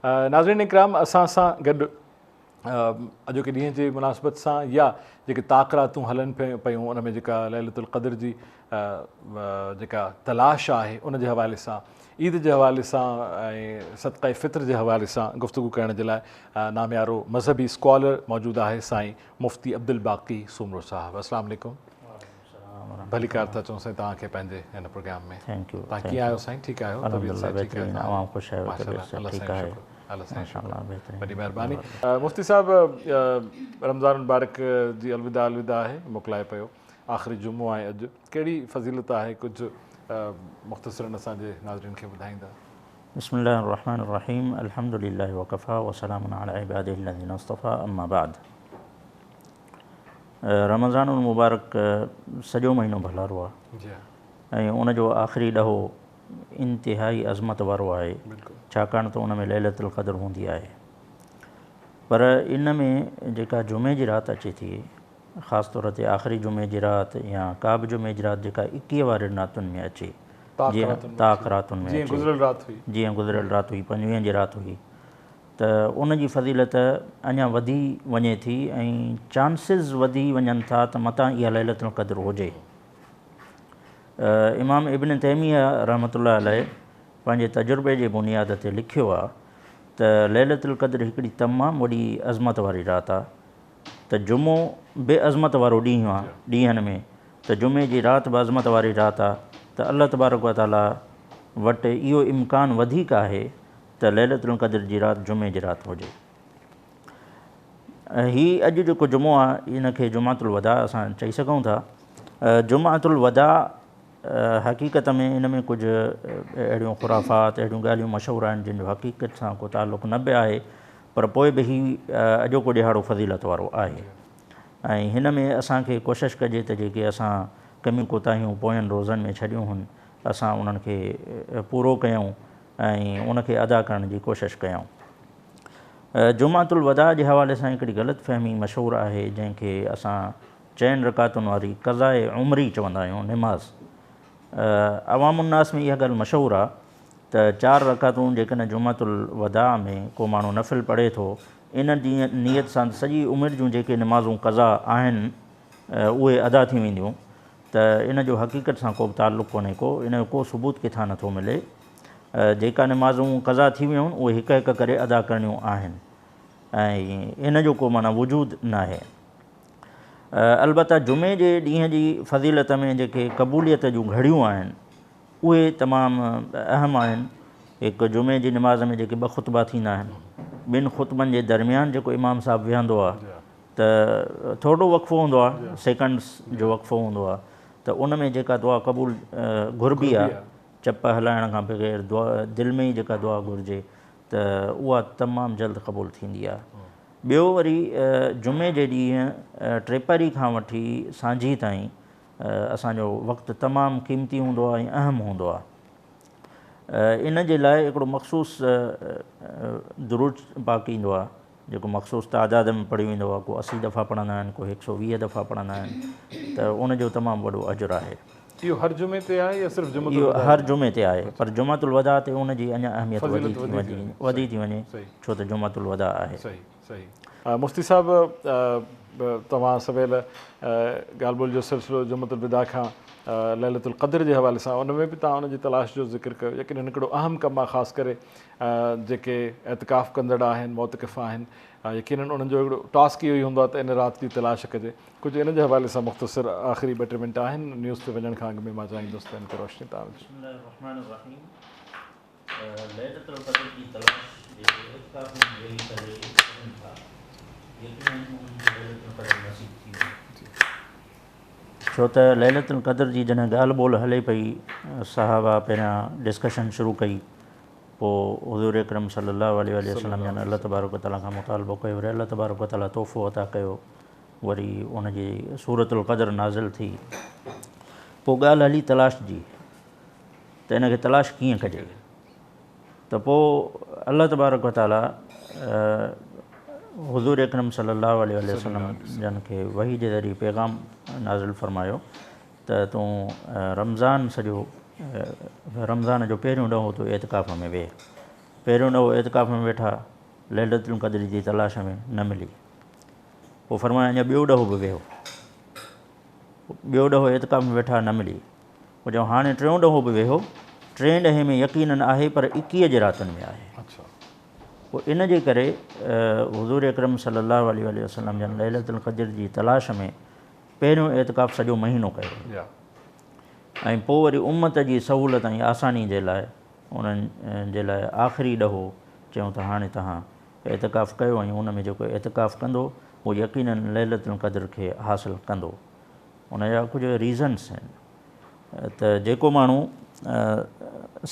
ناظرين اڪرام اسان سان گڏ اڄوڪي ڏينهن جي مناسبت سان يا جيڪي طاق راتون هلن پيون ان ۾ جيڪا ليلت القدر جي جيڪا تلاش آهي ان جي حوالي سان عيد جي حوالي سان ۽ صدقه فطر جي حوالي سان گفتگو ڪرڻ جي لاء ناميارو مذهبي اسڪالر موجود آهي سائين مفتي عبدالباقي سومرو صاحب السلام عليڪم ڀليڪار ٿا چئون سائين توهان کي پنهنجي هن پروگرام ۾ توهان ڪيئن آهيو سائين ٺيڪ آهيو طبيعت صحت ٺيڪ آهي ماشاء الله سائين شڪر سائين شڪر وڏي مهرباني مفتي صاحب رمضان المبارڪ جي الوداع الوداع آهي موڪلائي پيو آخري جمعو آهي اڄ ڪهڙي فضيلت آهي ڪجهه مختصرا اسان جي ناظرين کي ٻڌائيندا بسم الله الرحمن الرحيم الحمد لله وكفى وسلام على عباده الذين اصطفى اما بعد رمضان المبارڪ سڄو مهينو ڀلارو آهي ۽ ان جو آخري ڏهو انتهائي عظمت وارو آهي ڇاڪاڻ ته ان ۾ ليلة القدر هوندي آهي پر ان ۾ جيڪا جمعي جي رات اچي ٿي خاص طور تي آخري جمعي جي رات يا ڪا به جمعي جي رات جيڪا اڪيهه وارين راتن ۾ اچي جيئن تاڪ راتن ۾ جيئن گذريل رات هئي پنجويهن جي رات هئي ته ان جي فضيلت اڃا وڌي وڃي ٿي ۽ چانسز وڌي وڃن ٿا ته متان اها ليلة القدر هجي. امام ابن تيميه رحمة الله عليه پنهنجي تجربي جي بنياد تي لکيو آهي ته ليلة القدر هڪڙي تمام وڏي عظمت واري رات آهي ته جمعو به عظمت وارو ڏينهن آهي ڏينهن ۾ ته جمعي جي رات به عظمت واري رات آهي ته الله تبارڪ وتعاليٰ وٽ اهو امڪان وڌيڪ آهي ته ليلة القدر جي رات جمعي جي رات هجي ۽ هي اڄ جيڪو جمعو آ ان کي جمعة الوداع اسان چئي سگهون ٿا جمعة الوداع حقيقت ۾ ان ۾ ڪجهه اهڙيون خرافات اهڙيون ڳالهيون مشهور آهن جن جو حقيقت سان ڪو تعلق نه به آهي پر پوء به هي اڄوڪو ڏهاڙو فضيلت وارو آهي ۽ هن ۾ اسان کي ڪوشش ڪجي ته جيڪي اسان ڪميون ڪوتاهيون پوين روزن ۾ ڇڏيون هن اسان انهن کي پورو ڪيون ۽ ان کي ادا ڪرڻ جي ڪوشش ڪيائون. جمعة الوداع جي حوالي سان هڪڙي غلط فهمي مشهور آهي جنهن کي اسان چئن رڪعتن واري قضاء عمري چوندا آهيون نماز عوام الناس ۾ اها ڳالهه مشهور آ ته چار رڪعتون جيڪڏهن جمعة الوداع ۾ ڪو ماڻهو نفل پڙهي ٿو ان نيت سان ته سڄي عمر جون جيڪي نمازون قضاء آهن اهي ادا ٿي وينديون ته ان جو حقيقت سان ڪو به تعلق ڪونهي ڪو ان جو ڪو ثبوت ڪٿان نه ٿو ملي جيڪا نمازون قضا ٿي ويون اهي هڪ هڪ ڪري ادا ڪرڻيون آهن ۽ ان جو ڪو معنيٰ وجود ناهي البته جمعي جي ڏينهن جي فضيلت ۾ جيڪي قبوليت جون گهڙيون آهن اهي تمام اهم آهن هڪ جمعي جي نماز ۾ جيڪي ٻه خطبا ٿيندا آهن ٻن خطبن جي درميان جيڪو امام صاحب ويهندو آهي ته ٿورڙو وقفو هوندو آهي سيڪنڊس جو وقفو هوندو آهي ته ان ۾ جيڪا دعا قبول گهربي آهي چپ هلائڻ کان بغير دعا دل ۾ ئي جيڪا دعا گهرجي ته اها تمام جلد قبول ٿيندي آهي ٻيو وري جمعي جي ڏينهن ٽيپهري کان وٺي سانجهي تائين اسان جو وقت تمام قيمتي هوندو آهي ۽ اهم هوندو آهي ان جي لاء هڪڙو مخصوص درود پاڪ ايندو آهي جيڪو مخصوص تعداد ۾ پڙهيو ويندو آهي، ڪو اسي دفعا پڙهندا آهن، ڪو هڪ سؤ ويهه دفعا پڙهندا آهن ته ان جو تمام وڏو اجر آهي. اهو هر جمعي تي آهي يا صرف جمعة الوداع تي؟ اهو هر جمعي تي آهي پر جمعة الوداع تي ان جي اڃا اهميت وڌي ٿي وڃي ڇو ته جمعة الوداع آهي. مفتي صاحب توهان سويل ڳالهه ٻولهه جو سلسلو جمعة الوداع کان ليلة القدر جي حوالي سان ان ۾ به توهان ان جي تلاش جو ذڪر ڪيو يقينن هڪڙو اهم ڪم آهي خاص ڪري جيڪي اعتڪاف ڪندڙ آهن، معتڪف آهن، يقينن انهن جو هڪڙو ٽاسڪ اهو ئي هوندو آهي ته ان رات جي تلاش ڪجي. ڪجهه ان جي حوالي سان مختصر آخري ٻه ٽي منٽ آهن، نيوز تي وڃڻ کان اڳ ۾ مان چاهيندس ته ان تي روشني توهان وجهو. بسم الله الرحمٰن الرحيم ليلة القدر جي تلاش جيڪي اعتڪاف ۾ ويهي ڪري ڪرين ٿا، يقينن انهن کي ليلة القدر نصيب ٿيندي. ڇو ته ليلة القدر جي جڏهن ڳالهه ٻولهه هلي پئي صحابه پهريان ڊسڪشن شروع ڪئي پوء حضور اڪرم صلي الله عليه واٰله وسلم جن الله تبارڪ وتعالٰي کان مطالبو ڪيو وري الله تبارڪ وتعالٰي تحفو عطا ڪيو وري ان جي سورة القدر نازل ٿي پوء ڳالهه هلي تلاش جي ته ان کي تلاش ڪيئن ڪجي. ته پوء الله تبارڪ و تعاليٰ حضور اڪرم صلي الله عليه واٰله وسلم جن کي وحي جي ذريعي پيغام نازل فرمايو ته تون رمضان سڄو رمضان جو پهريون ڏهو تون اعتڪاف ۾ ويهه پهريون ڏهو اعتڪاف ۾ ويٺا ليلة القدر جي تلاش ۾ نه ملي پوء فرمايو اڃا ٻيو ڏهو به ويهو ٻيو ڏهو اعتڪاف ۾ ويٺا نه ملي هو جو هاڻي ٽيون ڏهو به ويهو، ٽين ڏهي ۾ يقينن آهي پر اڪيهه جي راتن ۾ آهي. پوء ان جي ڪري حضور اڪرم صلي الله عليه واٰله وسلم جن ليلة القدر جي تلاش ۾ پهريون اعتڪاف سڄو مهينو ڪيو ويو ۽ پوء وري امت جي سهولت ۽ آساني جي لاء انهن جي لاء آخري ڏهو چيون ته هاڻي توهان اعتڪاف ڪيو ۽ ان ۾ جيڪو اعتڪاف ڪندو هو يقينن ليلة القدر کي حاصل ڪندو. ان جا ڪجهه ريزنس آهن ته جيڪو ماڻهو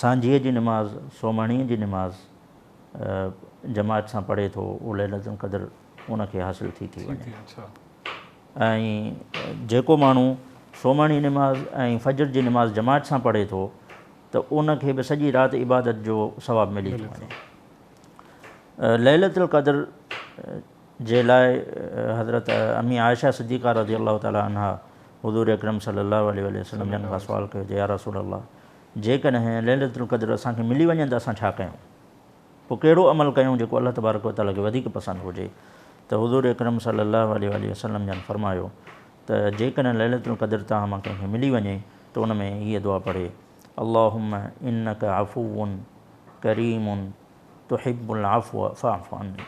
سانجهيء جي نماز، سومهڻيء جي نماز، جماعت سان پڙهي ٿو اهو ليلة القدر ان کي حاصل ٿي ٿي وڃي ۽ جيڪو ماڻهو سومهڻي نماز ۽ فجر جي نماز جماعت سان پڙهي ٿو ته ان کي به سڄي رات عبادت جو ثواب ملي ٿو وڃي ليلة القدر جي لاء حضرت امي عائشه صديقه رضي الله تعالٰي عنها حضور اڪرم صلي الله عليه واٰله وسلم جن کان سوال ڪيو ته يا رسول الله جيڪڏهن ليلة القدر اسان کي ملي وڃي ته اسان ڇا ڪيون؟ پوء ڪهڙو عمل ڪيون جيڪو الله تبارڪ و تعالٰي کي وڌيڪ پسند هجي ته حضور اڪرم صلي الله عليه واٰله وسلم جن فرمايو ته جيڪڏهن ليلة القدر توهان مان ڪنهن کي ملي وڃي ته ان ۾ هيء دعا پڙهي اللهم انڪ عفو ڪريم تحب العفو فاعف عني.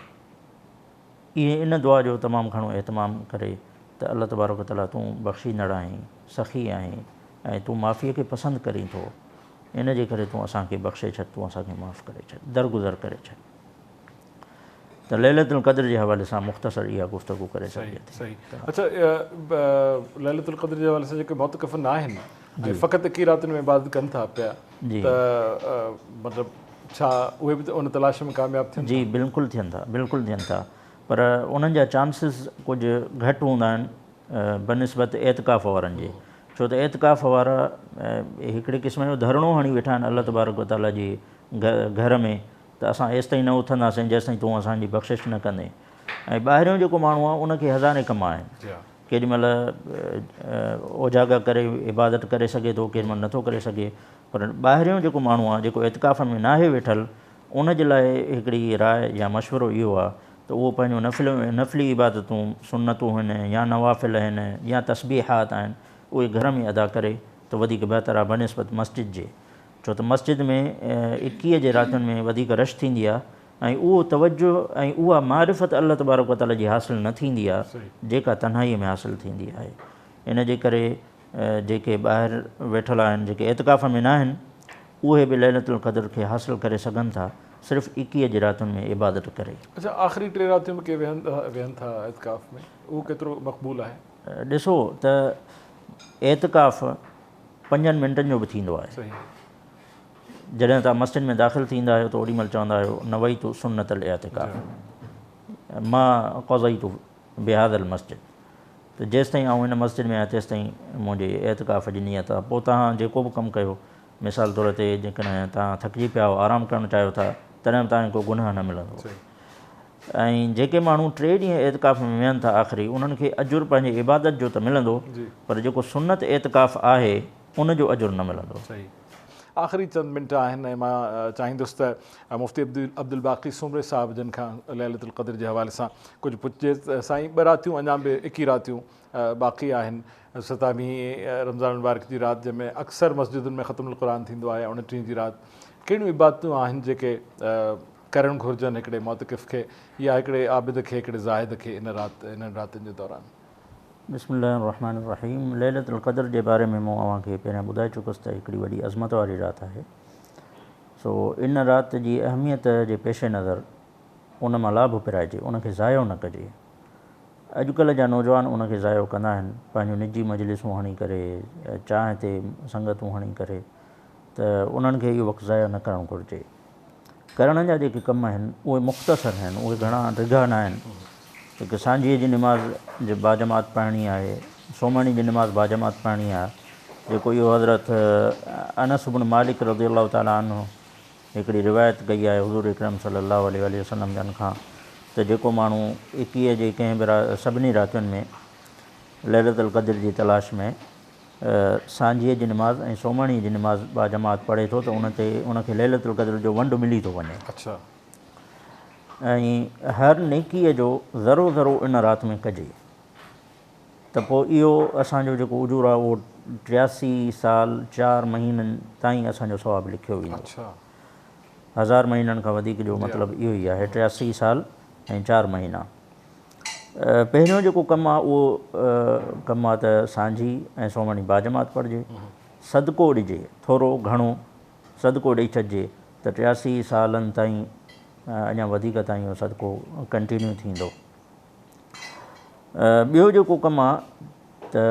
ايئن ان دعا جو تمام گهڻو اهتمام ڪري ته الله تبارڪ و تعاليٰ تون بخشيندڙ آهين، سخي آهين ۽ تون معافيء کي پسند ڪرين ٿو، ان جي ڪري تون اسان کي بخشي ڇڏ، تون اسان کي معاف ڪري ڇڏ، درگذر ڪري ڇڏ. ته ليلة القدر جي حوالي سان مختصر اها گفتگو ڪري سگهجي ٿي. صحيح صحيح. اچا ليلة القدر جي حوالي سان جيڪي مؤتڪف ناهن ۽ فقط اڪيئن راتين ۾ عبادت ڪن ٿا پيا، ته مطلب ڇا اهي به ته ان تلاش ۾ ڪامياب ٿين ٿا؟ جي بلڪل ٿين ٿا بلڪل ٿين ٿا پر انهن جا چانسز ڪجهه گهٽ هوندا آهن بنسبت اعتڪاف وارن جي ڇو ته اعتڪاف وارا هڪڙي قسم جو ڌرڻو هڻي ويٺا آهن الله تبارڪ و تعاليٰ جي گهر ۾ ته اسان ايستائين نه اٿنداسين جيستائين تون اسان جي بخشش نه ڪندين ۽ ٻاهريون جيڪو ماڻهو آهي ان کي هزارين ڪم آهن ڪيڏي مھل اوجاڳا ڪري عبادت ڪري سگھي ٿو ڪيڏي مھل نٿو ڪري سگھي پر ٻاھريون جيڪو ماڻھو آ جيڪو اعتڪاف ۾ ناھي ويٺل ان جي لاء ھڪڙي راء يا مشورو اھو آ ته اھو پنھنجون نفل نفلي عبادتون سنتون ھن يا نوافل ھن يا تسبيحات آھن اھي گھر ۾ ادا ڪري ته وڌيڪ بھتر آ بنسبت مسجد جي ڇو ته مسجد ۾ اڪيھه جي راتين ۾ وڌيڪ رش ٿيندي آ ۽ اهو توجه ۽ اها معرفت الله تبارڪ و تعاليٰ جي حاصل نه ٿيندي آهي جيڪا تنهائيء ۾ حاصل ٿيندي آهي. ان جي ڪري جيڪي ٻاهر ويٺل آهن جيڪي اعتڪاف ۾ ناهن اهي به ليلة القدر کي حاصل ڪري سگهن ٿا صرف ايڪيهه جي راتن ۾ عبادت ڪري. اڇا آخري ٽي راتيون به ڪي ويهن ٿا اعتڪاف ۾ اهو ڪيترو مقبول آهي؟ ڏسو ته اعتڪاف پنجن منٽن جو به ٿيندو آهي. جڏهن توهان مسجد ۾ داخل ٿيندا آهيو ته اوڏي مهل چوندا آهيو نويت سنت الاعتکاف ما قضيت بهذا المسجد ته جيستائين آئون هن مسجد ۾ آهيان تيستائين منهنجي اعتکاف جي نيت آهي پوء توهان جيڪو به ڪم ڪيو مثال طور تي جيڪڏهن توهان ٿڪجي پيا آهيو آرام ڪرڻ چاهيو ٿا تڏهن به توهان کي ڪو گناهه نه ملندو ۽ جيڪي ماڻهو ٽي ڏينهن اعتکاف ۾ ويهن ٿا آخري انهن کي اجر پنهنجي عبادت جو ته ملندو پر جيڪو سنت اعتکاف آهي ان جو اجر نه ملندو. صحيح. آخري چند منٽ آهن ۽ مان چاهيندس ته مفتي عبدالباقي سومري صاحب جن کان ليلة القدر جي حوالي سان ڪجهه پڇجي ته سائين ٻه راتيون اڃا به اڪي راتيون باقي آهن ستاويهين رمضان المبارڪ جي رات جنهن ۾ اڪثر مسجدن ۾ ختم القرآن ٿيندو آهي اوڻٽيهين جي رات ڪهڙيون عبادتون آهن جيڪي ڪرڻ گهرجن هڪڙي معتڪف کي يا هڪڙي عابد کي هڪڙي زاهد کي ان رات انهن راتين جي دوران. بسم الله الرحمٰن الرحيم ليلة القدر جي باري ۾ مون اوهان کي پهريان ٻڌائي چڪس ته هڪڙي وڏي عظمت واري رات آهي سو ان رات جي اهميت جي پيش نظر ان مان لاڀ پرائجي ان کي ضايع نه ڪجي اڄڪلهه جا نوجوان ان کي ضايع ڪندا آهن پنهنجون نجي مجلسون هڻي ڪري چانهه تي سنگتون هڻي ڪري ته انهن کي اهو وقت ضايع نه ڪرڻ گهرجي ڪرڻ جا جيڪي ڪم آهن اهي مختصر آهن اهي گهڻا ڊگها ناهن هڪ سانجهيء جي نماز جي باجماعت پڙهڻي آهي سومهڻي جي نماز باجماعت پڙهڻي آهي جيڪو اهو حضرت انس بن مالڪ رضي الله تعالٰي عنه هڪڙي روايت ڪئي آهي حضور اڪرم صلي الله عليه واٰله وسلم جن کان ته جيڪو ماڻهو ايڪيهه جي ڪنهن به سڀني راتين ۾ ليلة القدر جي تلاش ۾ سانجهيء جي نماز ۽ سومهڻيء جي نماز باجماعت پڙهي ٿو ته ان تي ان کي ليلة القدر جو ونڊ ملي ٿو وڃي ۽ هر نيڪيء جو ذرو ذرو ان رات ۾ ڪجي ته پوء اهو اسان جو جيڪو اجور آهي اهو ٽياسي سال چار مهينن تائين اسان جو ثواب لکيو ويندو. هزار مهينن کان وڌيڪ جو مطلب اهو ئي آهي ٽياسي سال ۽ چار مهينا. پهريون جيڪو ڪم آ اهو ڪم آ ته سانجهي ۽ سومهڻي باجماعت پڙهجي، صدقو ڏجي، ٿورو گهڻو صدقو ڏئي ڇڏجي ته ٽياسي سالن تائين اڃا وڌيڪ تائين اهو صدقو ڪنٽينيو ٿيندو. ٻيو جيڪو ڪم آ ته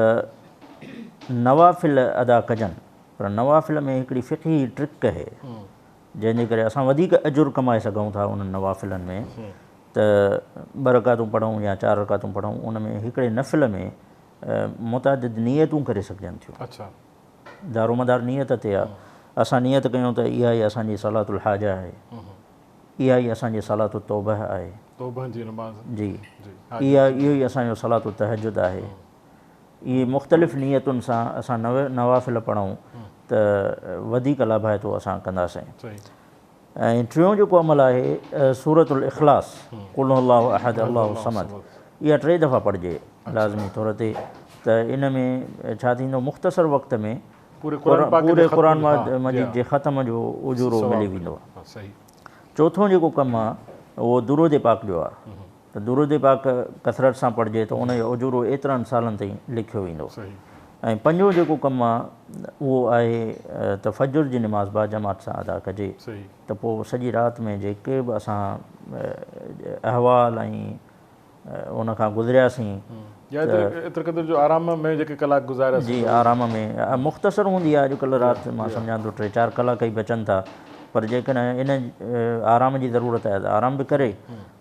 نوافل ادا ڪجن پر نوافل ۾ هڪڙي فقهي ٽرڪ اهي. جنهن جي ڪري اسان وڌيڪ اجر ڪمائي سگهون ٿا انهن نوافلن ۾ ته ٻه رڪعتون پڙهون يا چار رڪعتون پڙهون ان ۾ هڪڙي نفل ۾ متعدد نيتون ڪري سگهجن ٿيون دارومدار نيت تي آهي اسان نيت ڪيون ته اها ئي اسان جي صلات الحاجه آهي اها ئي اسان جي صلات التوبه آهي جي اها اهو ئي اسان جو صلات التهجد آهي اهي مختلف نيتن سان اسان نوافل پڙهون ته وڌيڪ لاڀائتو اسان ڪنداسين. ۽ ٽيون جيڪو عمل آهي سورة الاخلاص، قل هو الله احد الله الصمد، اها ٽي دفعا پڙهجي لازمي طور تي ته ان ۾ ڇا ٿيندو مختصر وقت ۾ پوري قرآن مجيد جي ختم جو اجورو ملي ويندو. چوٿون جيڪو ڪم آهي اهو درود پاڪ جو آهي. ته درود پاڪ ڪثرت سان پڙهجي ته ان جو اجورو ايترن سالن تائين لکيو ويندو. ۽ پنجون جيڪو ڪم آ اهو آهي ته فجر جي نماز با جماعت سان ادا ڪجي ته پوء سڄي رات ۾ جيڪي به اسان احوال ۽ ان کان گذرياسين جي آرام ۾ مختصر هوندي آ اڄ ڪلهه رات مان سمجهان ٿو ٽي چار ڪلاڪ ئي بچن ٿا پر جيڪڏهن ان آرام جي ضرورت آهي ته آرام به ڪري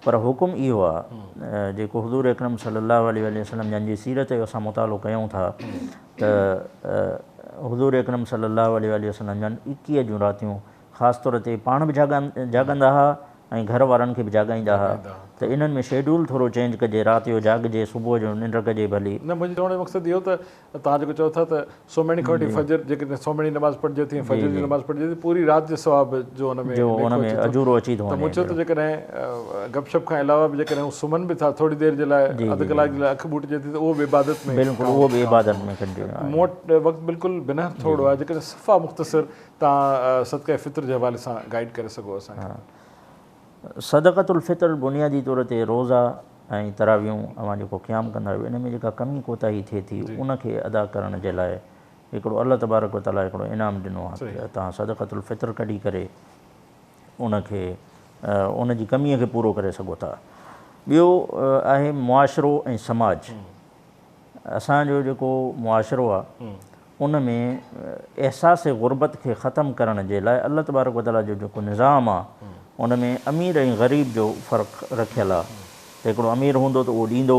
پر حڪم اهو آ، جيڪو حضور اڪرم صلي الله عليه واٰله وسلم جن جي سيرت جو اسان مطالعو ڪيون ٿا ته حضور اڪرم صلي الله عليه واٰله وسلم جن ايڪيهه جون راتيون خاص طور تي پاڻ به جاڳندا ها ۽ گهر وارن کي به جاڳائيندا ها ته انهن ۾ شيڊول ٿورو چينج ڪجي رات جو جاڳجي صبح جو ننڊ ڪجي ڀلي. نه منهنجي چوڻ جو مقصد اهو ته توهان جيڪو چئو ٿا ته سومهڻي کان وٺي فجر جيڪڏهن سومهڻي نماز پڙهجي ٿي ۽ فجر جي نماز پڙهجي ٿي پوري رات جي ثواب جو ان ۾ ليکو اچي ٿو ته مون چيو ته جيڪڏهن گپ شپ کان علاوه به جيڪڏهن هو سمهن به ٿا ٿوري دير جي لاء اڌ ڪلاڪ جي لاء اک ٻوٽجي ٿي ته اهو به عبادت ۾ مون وٽ وقت بلڪل بنهه ٿورڙو آهي جيڪڏهن صفا مختصر تان صدقه فطر جي حوالي سان گائيڊ ڪري سگهو اسان کي صدقة الفطر بنيادي طور تي روزا ۽ تراويحون اوهان جيڪو قيام ڪندا آهيو ان ۾ جيڪا ڪمي ڪوتاهي ٿئي ٿي ان کي ادا ڪرڻ جي لاء هڪڙو الله تبارڪ و تعاليٰ هڪڙو انعام ڏنو آهي ته توهان صدقة الفطر ڪڍي ڪري ان کي ان جي ڪميء کي پورو ڪري سگهو ٿا. ٻيو آهي معاشرو ۽ سماج اسان جو جيڪو معاشرو آ ان ۾ احساس غربت کي ختم ڪرڻ جي لاء الله تبارڪ و تعالي جو جيڪو نظام آ ان ۾ امير ۽ غريب جو فرق رکيل آ ته هڪڙو امير هوندو ته اهو ڏيندو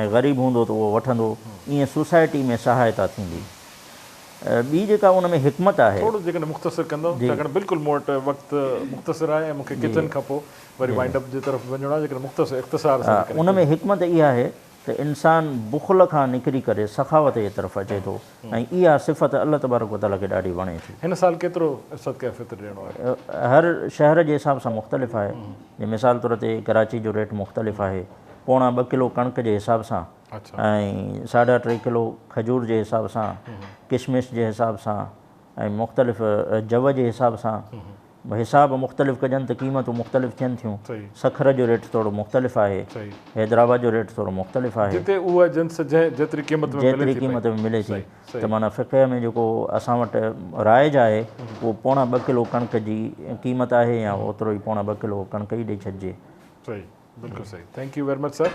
۽ غريب هوندو ته اهو وٺندو ائين سوسائٽي ۾ سهائتا ٿيندي ٻي جيڪا ان ۾ حڪمت آهي. ٿورو جيڪڏهن مختصر ڪندؤ ڇاڪاڻ بلڪل مون وٽ وقت مختصر آهي ۽ مون کي ڪيترن کان پوء وري وائنڊ اپ جي طرف به وڃڻو آهي جيڪڏهن مختصر اختصار سان ڪري ان ۾ حڪمت اها آهي ته انسان بخل کان نڪري ڪري سخاوت جي طرف اچي ٿو ۽ اها صفت الله تبارڪ و تعاليٰ کي ڏاڍي وڻي ٿي. هن سال ڪيترو صدقه فطر ڏيڻو آهي؟ هر شهر جي حساب سان مختلف آهي جي مثال طور تي ڪراچي جو ريٽ مختلف آهي پوڻا ٻه ڪلو ڪڻڪ جي حساب سان ۽ ساڍا ٽي ڪلو کجور جي حساب سان ڪشمش جي حساب سان ۽ مختلف جو جي حساب سان حساب مختلف ڪجن ته قيمتون مختلف ٿين ٿيون. سکر جو ريٽ ٿورو مختلف آهي. حيدرآباد جو ريٽ ٿورو مختلف آهي. جتي اها جنس جنهن جيتري قيمت ۾ ملي ٿي پئي. جيتري قيمت ۾ ملي ٿي. ته معنيٰ فقه ۾ جيڪو اسان وٽ رائج آهي اهو پوڻا ٻه ڪلو ڪڻڪ جي قيمت آهي يا اوترو ئي پوڻا ٻه ڪلو ڪڻڪ ئي ڏئي ڇڏجي. صحيح بلڪل صحيح thank you very much sir.